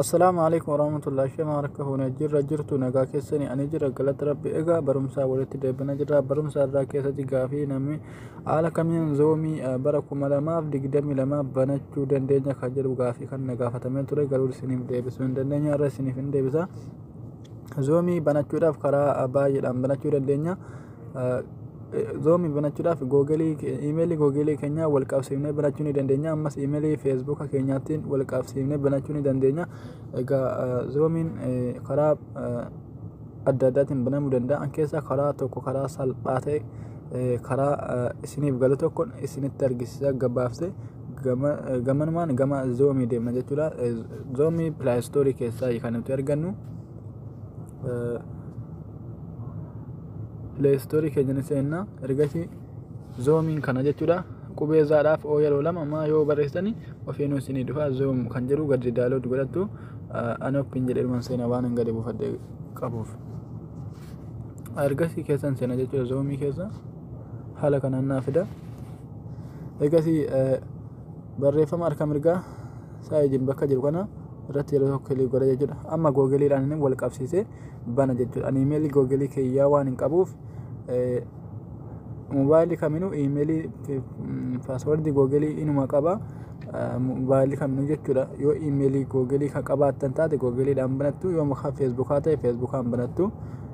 Assalaamu alaikum warahmatullahi shema harka fuunee jirra jirtu nagaa keessanii ani jira galata rabbi egaa barumsaa walitti deebina jirra barumsaa irraa keessatti gaafii namni haala kamiin zoomii eh, bara kuma lamaaf digdamii lama banachuu dandeenya kan jedhu gaafii kan na gaafatamee ture garuu isiniif deebisuu hin dandeenye irra isiniif hin deebisa. Zoomii banachuudhaaf karaa baay'eedhaan banachuu dandeenya. Zoomii banachuudhaaf googelii imeelii googelii keenyaa wal qabsiifnee banachuu ni dandeenya. Ammas imeelii feesbuuka keenyaatiin wal qabsiifnee banachuu ni dandeenya. Egaa zoomiin karaa adda addaatiin banamuu danda'an keessaa karaa tokko karaa salphaa ta'e karaa isiniif galu tokkon isinitti argisiisa gabaabsee. gamanumaan gama zoomii deemna jechuudha. Zoomii pilaayistoorii keessaa kan nuti argannu pilaayistoorii keenya ni seenna ergasii zoomiin kana jechuudha. Qubee zaadhaaf oo yeroo lama maa yoo barreessitani ofiinuu isinii dhufa zoom kan jedhu gadi daalood godhattu anoppiin jedheeruman seena waan hin gadi buufadhe qabuuf. Ergasii keessan seena jechuudha zoomii keessa haala kanaan naa fida. egasii barreeffama harka mirgaa saayijin bakka jiru kana irratti yeroo tokko kilii godha jechuudha amma googiliidhaan inni wal qabsiisee bana jechuudha ani imeelii googilii kiyyaa waan hin qabuuf mobaayilii kaminuu imeelii paaswordii googilii inuma qaba mobaayilii kaminuu jechuudha yoo imeelii googilii kan qabaattan taate googiliidhaan banattu yoo mukaa feesbuukaa ta'e feesbuukaan banattu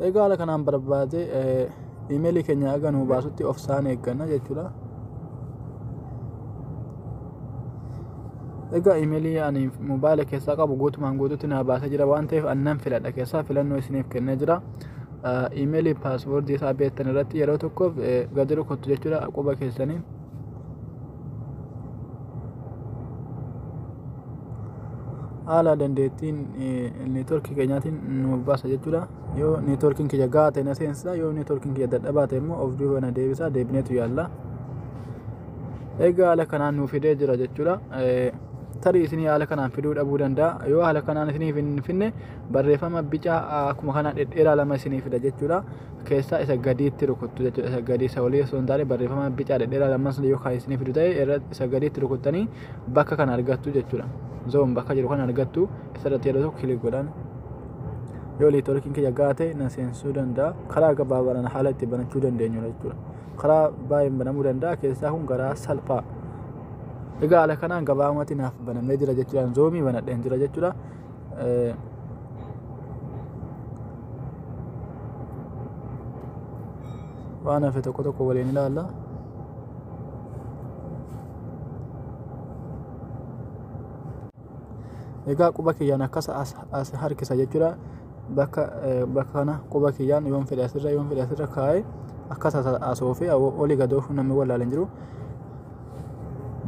Egaa haala kanaan barbaade iimeelii keenya haga nuu baasutti of saan eegganna jechuudha. Egaa iimeelii ani moobaayila keessaa qabu guutumaan guututti naa baasee jira waan ta'eef annan filadha keessaa filannoo isiniif kennee jira. Iimeelii paaswoordii isaa beektan irratti yeroo tokkoof gadi rukuttu jechuudha quba keessaniin. haala dandeettiin neetworkii keenyaatiin nu baasa jechuudha yoo neetworkiin kiyya gahaa ta'e na seensa yoo neetworkiin kiyya dadhabaa ta'e immoo of duuba na deebisa deebineetu yaalla egaa haala kanaan nu fidee jira jechuudha tarii isinii haala kanaan fiduu dhabuu danda'a yoo haala kanaan isiniif hin finne barreeffama bicaa akkuma kana dhedheeraa lama isinii fida jechuudha keessaa isa gadiitti rukuttu jechuudha. Isa gadii isa olii osoo hin taane barreeffama bicaa dhedheeraa lamman sana yoo kan isiniif fidu ta'e irra isa gadiitti rukuttanii bakka kana argattu jechuudha. Zoom bakka jiru kana argattu isarratti yeroo tokko kilik godhan. Yoo liitoorkiin kiyya gaate na seensuu danda'a. Karaa gabaabaadhaan haala itti banachuu dandeenyu jechuudha. Karaa baay'een banamuu danda'a keessaa kun garaa salphaa. Egaa haala kanaan gabaabumatti naaf banamee jira jechuudhaan zoomii banadheen jira jechuudha. waan hafe tokko tokko waliin ilaalla. Egaa quba kiyyaan akkas as harkisa jechuudha. Bakka bakka kana quba kiyyaan yoon fedhe asirra yoon fedhe asirra kaa'ee akkas as oofee olii gad oofuun namni wallaalan jiru.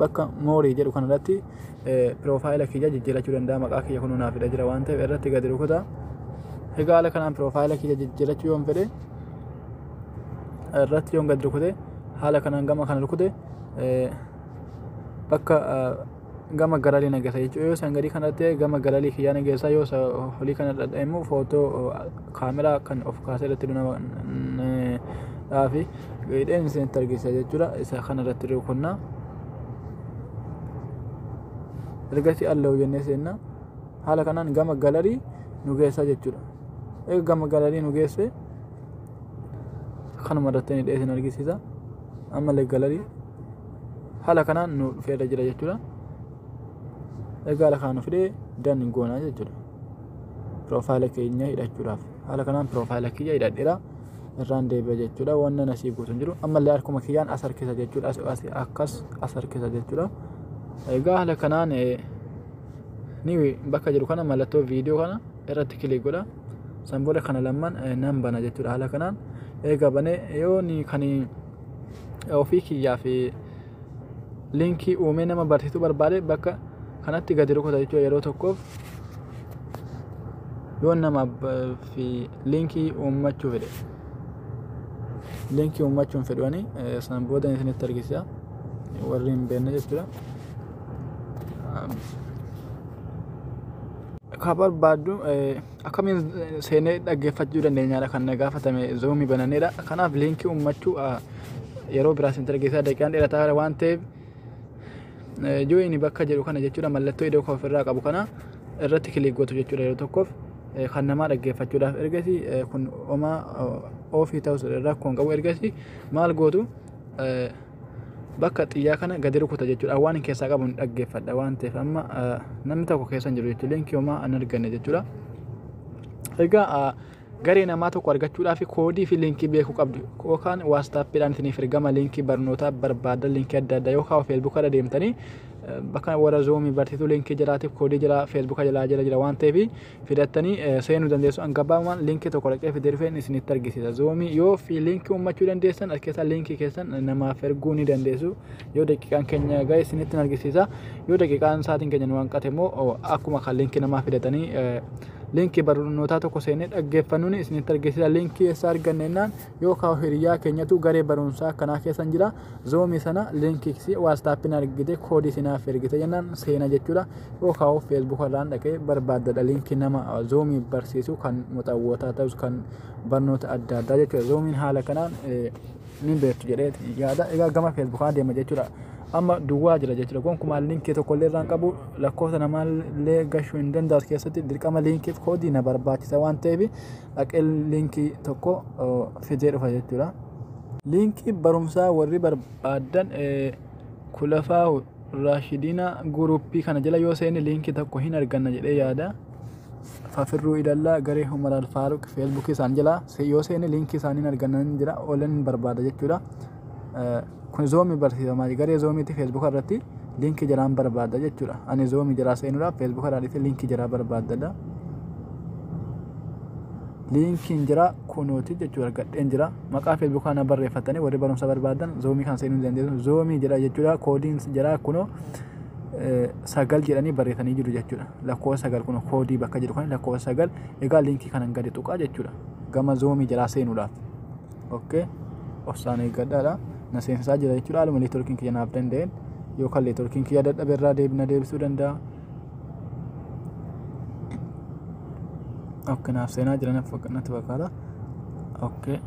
bakka moorii jedhu kana irratti piroofaayila kiyya jijjiirachuu danda'a maqaa kiyya kun naaf fida jira waan ta'eef irratti gadi rukuta egaa haala kanaan piroofaayila kiyya jijjiirachuu yoon fedhe irratti yoon gadi rukute haala kanaan gama kana rukute bakka gama galalii nageessa jechuudha yoo san gadii kanatti gama galalii kiyyaa nageessa yoo olii kana dhadha'imu footoo kaameraa kan of kaasee irratti nama dhaafi hidheen isinitti argisiisa jechuudha isa kana irratti rukunnaa ergasii allahu jennee seenna haala kanaan gama galarii nu geessaa jechuudha eega gama galarii nu geesse kanuma irratti hidhee isin argisiisa ammallee galarii haala kanaan nu dhufeera jira jechuudha egaa haala kanaan nu fidee dan goonaa jechuudha piroofaayila keenya hidhachuudhaaf haala kanaan piroofaayila kiyya hidhadheera irraan deebi'a jechuudha wanna nasii guutu hin jiru ammallee harkuma kiyyaan as harkisa jechuudha as as akkas as harkisa jechuudha egaa haala kanaan eh, ni bakka jiru kana mallattoo viidiyoo kana irratti kilik godha san booda kana lamman eh, nan bana jechuudha haala kanaan eega banee yoo ni kan ofii kiyyaa fi linkii uumee nama barsiisuu barbaade bakka kanatti gadi rukuta jechuudha yeroo tokkoof yoo nama fi linkii uummachuu fedhe linkii uummachuun fedhuani san booda isinitti argisiisa warri hin beekne jechuudha. Ka barbaaddu akkamiin seenee dhaggeeffachuu dandeenyaadha kan na gaafatame zoomii bananneedha kanaaf linkii uummachuu yeroo biraa sentira keessaa daqiiqaan dheerataa waan ta'eef join bakka jedhu kana jechuudha mallattoo iddoo koof irraa qabu kana irratti kiliik gootu jechuudha yeroo tokkoof kan namaa dhaggeeffachuudhaaf ergasi kun omaa ofii ta'us rakkoon qabu ergasi maal gootu bakka xiyyaa kana gadi rukuta jechuudha waan hin keessaa qabu hin dhaggeeffadha waan ta'eef amma namni tokko keessa hin jiru jechuudha linkii homaa hin arganne jechuudha egaa Garee namaa tokko argachuudhaaf koodii fi liinkii beekuu qabdu. Yookaan waastaappiidhaan isiniif ergama liinkii barnootaa barbaadan liinkii adda addaa yookaan feesbuuka irra deemtanii bakka warra zoomii barsiisuu liinkii jiraatiif koodii jira feesbuuka jalaa jira jira waan ta'eef fidattanii seenuu dandeessu. An gabaabumaan liinkii tokko dhaqee fidee dhufeen isinitti argisiisa. Zoomii yoo fi liinkii uummachuu dandeessan as keessaa liinkii keessan namaaf erguu ni dandeessu. Yoo daqiiqaan keenya ga'e isinitti argisiisa. Yoo daqiiqaan sa'aatiin keenya nu hanqate immoo akkuma kan liinkii namaa fidatanii linkii barnootaa tokko seenee dhaggeeffannuun isinitti argisiisa. Linkii eessaa arganna jennaan yookaan hiriyaa keenyatu garee barumsaa kanaa keessan jira. Zoomii sana linkii waastaappiin argite koodii sinaaf ergite jennaan seena jechuudha. Yookaan feesbuuka irraan dhaqee barbaaddadha linkii nama zoomii barsiisu kan muxawwootaa ta'us kan barnoota adda addaa jechuudha. Zoomiin haala kanaan ni beektu jedhee yaada. Egaa gama Facebook kana deema jechuudha. Amma duwwaa jira jechuudha. Gonkumaa liinkii tokko illee irraan qabu lakkoofsa namaa illee gashuu hin danda'u as keessatti dirqama liinkiif koodii na barbaachisa waan ta'eef dhaqee liinkii tokko fidee dhufa jechuudha. Liinkii barumsaa warri barbaadan kulafaa Raashidina guruppii kana jala yoo seenne liinkii tokko hin arganna jedhee yaada. fafirruu ilallaa garee Umar Alfaaruq feesbuukii isaan jala yoo seene liinkii isaanii argannan jira oolan barbaada jechuudha. Kun zoomii barsiifama garee zoomiitti feesbuuka irratti liinkii jalaan barbaada jechuudha. Ani zoomii jalaa seenuudhaaf feesbuuka irraa dhifee liinkii jalaa barbaadadha. Liinkiin jira kunuuti jechuudha argadheen jira. Maqaa feesbuukaa na barreeffatanii warri barumsa barbaadan zoomii kan seenuu dandeessu zoomii jedha jechuudha koodiin jira kunoo. sagal jedhanii barreessanii jiru jechuudha. Lakkoofsa sagal kun koodii bakka jedhu kan lakkoofsa sagal egaa liinkii kanan gadi tuqaa jechuudha. Gama zoomii jalaa seenuudhaaf. Okkee obsaan eeggadhaadha. Na seensisaa jira jechuudha. Haaluma neetworkiin kiyya naaf danda'een yookaan neetworkiin kiyya dadhabe irraa deebina deebisuu danda'a. Okkee naaf seenaa jira natti fakkaata. Okkee.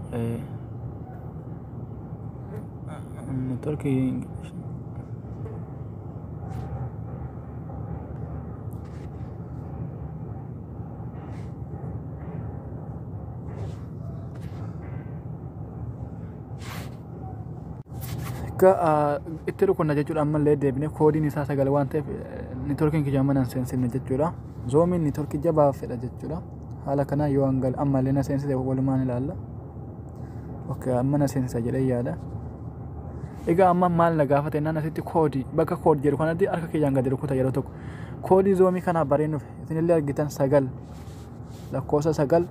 itti rukunna jechuudha ammallee deebine koodiin isaa sagal waan ta'eef networkiin kiyya mana hin seensifne jechuudha zoomiin networkii jabaa fedha jechuudha haala kanaa yoo hangal ammallee na seensise walumaan ilaalla. Okay, amma na seensa jedhee yaada. Egaa amma maal na gaafate naan asitti koodii bakka koodii jedhu kanatti harka kiyyaan gadi rukuta yeroo tokko. Koodii zoomii kanaa bareenuuf isinillee argitan sagal lakkoofsa sagal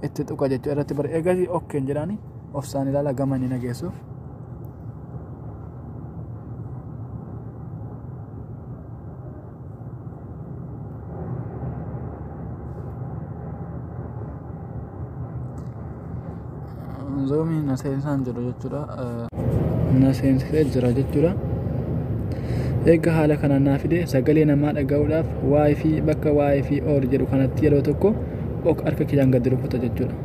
itti tuqa jechuu irratti bare egaa okkeen jedhaani of saan ilaala gama inni nageessuuf. zoomiin na seensaan jiru jechuudha na seensisee jira jechuudha eega haala kanaan naa fide sagalee namaa dhaga'uudhaaf waa'ee fi bakka waa'ee fi oor jedhu kanatti yeroo tokko ok harka kiyyaan gadi rukuta jechuudha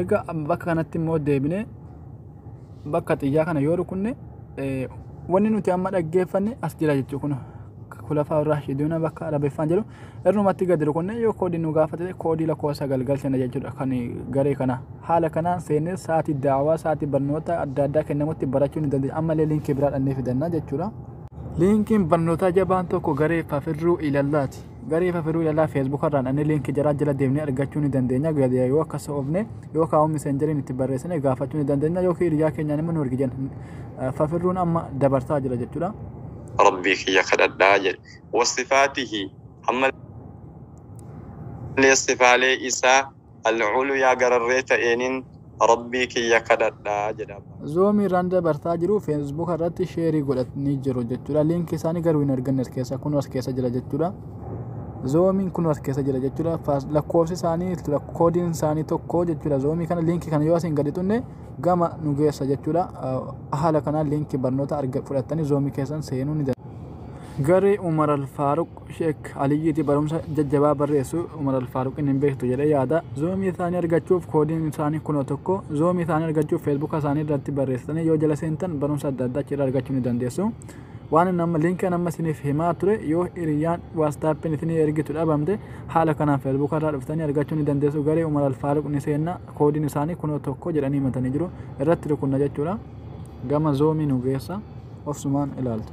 Egaa bakka kanatti immoo deebinee bakka xiyyaa kana yoo rukunne wanni nuti amma dhaggeeffanne as jira jechuu kun kulafaa irraa shiduuna bakka arabeeffaan jedhu irrumatti gadi rukunne yoo koodii nu gaafate koodii lakkoofsa galgalchina jechuudha kan garee kana haala kanaan seennee sa'aatii daawaa sa'aatii barnoota adda addaa kennamutti barachuu ni dandeenya ammallee liinkii biraa dhannee fidanna jechuudha. Liinkiin barnootaa jabaan tokko garee kafirruu ilallaati. Garii fafiruu ilalaa feesbuuka irraan anni liinki jaraa jala deemnee argachuu ni dandeenya gadiyaa yoo akkas ofne yoo kaa'uu miseenjeriin itti barreessine gaafachuu ni dandeenya yoo kii iryaa keenyaan immoo nu ergi jan fafirruun amma dabarsaa jira jechuudha. Rabbii kiyya kadhadhaa jedhe wasifaatihi hamma sifaalee isaa Al-Uliyaa gararree ta'eenin Rabbii kiyya kadhadha jedha. Zoom irraan dabarsaa jiru Facebook irratti sheerii godhatanii jiru jechuudha. Liinkii isaanii garuu hin arganne as keessa kun as keessa jira jechuudha. Zoomiin kun as keessa jira jechuudha. Faas- Lakkoofsi isaanii lak- koodiin isaanii tokko jechuudha. Zoomii kana liinkii kana yoo asiin gadi tunne gama nu geessa jechuudha. Ah, Haala kanaan liinkii barnoota arga fudhattanii zoomii keessan seenuu ni dandeessu. Garee Umar Al-Faaruq Sheek Aliyyiiti barumsa jajjabaa barreessu Umar Alfaaruqiin hin beektu jedhee yaada. Zoomii isaanii argachuuf koodiin isaanii kunoo tokko. Zoomii isaanii argachuuf feesbuuka isaanii irratti barreessitanii yoo jala seentan barumsa adda addaa achirraa argachuu ni dandeessu. Waan inni amma liinkii kan amma isiniif himaa ture yoo hiriyyaan waastaappiin isinii ergitu dhabamte haala kanaan feesbuuka irraa dhuftanii argachuu ni dandeessu. Garee Umar Alfaaruq ni seenna koodiin isaanii kunoo tokko jedhanii himatanii jiru. Irratti rukunna jechuudha. Gama zoomii nu geessa. Obsumaan ilaaltu.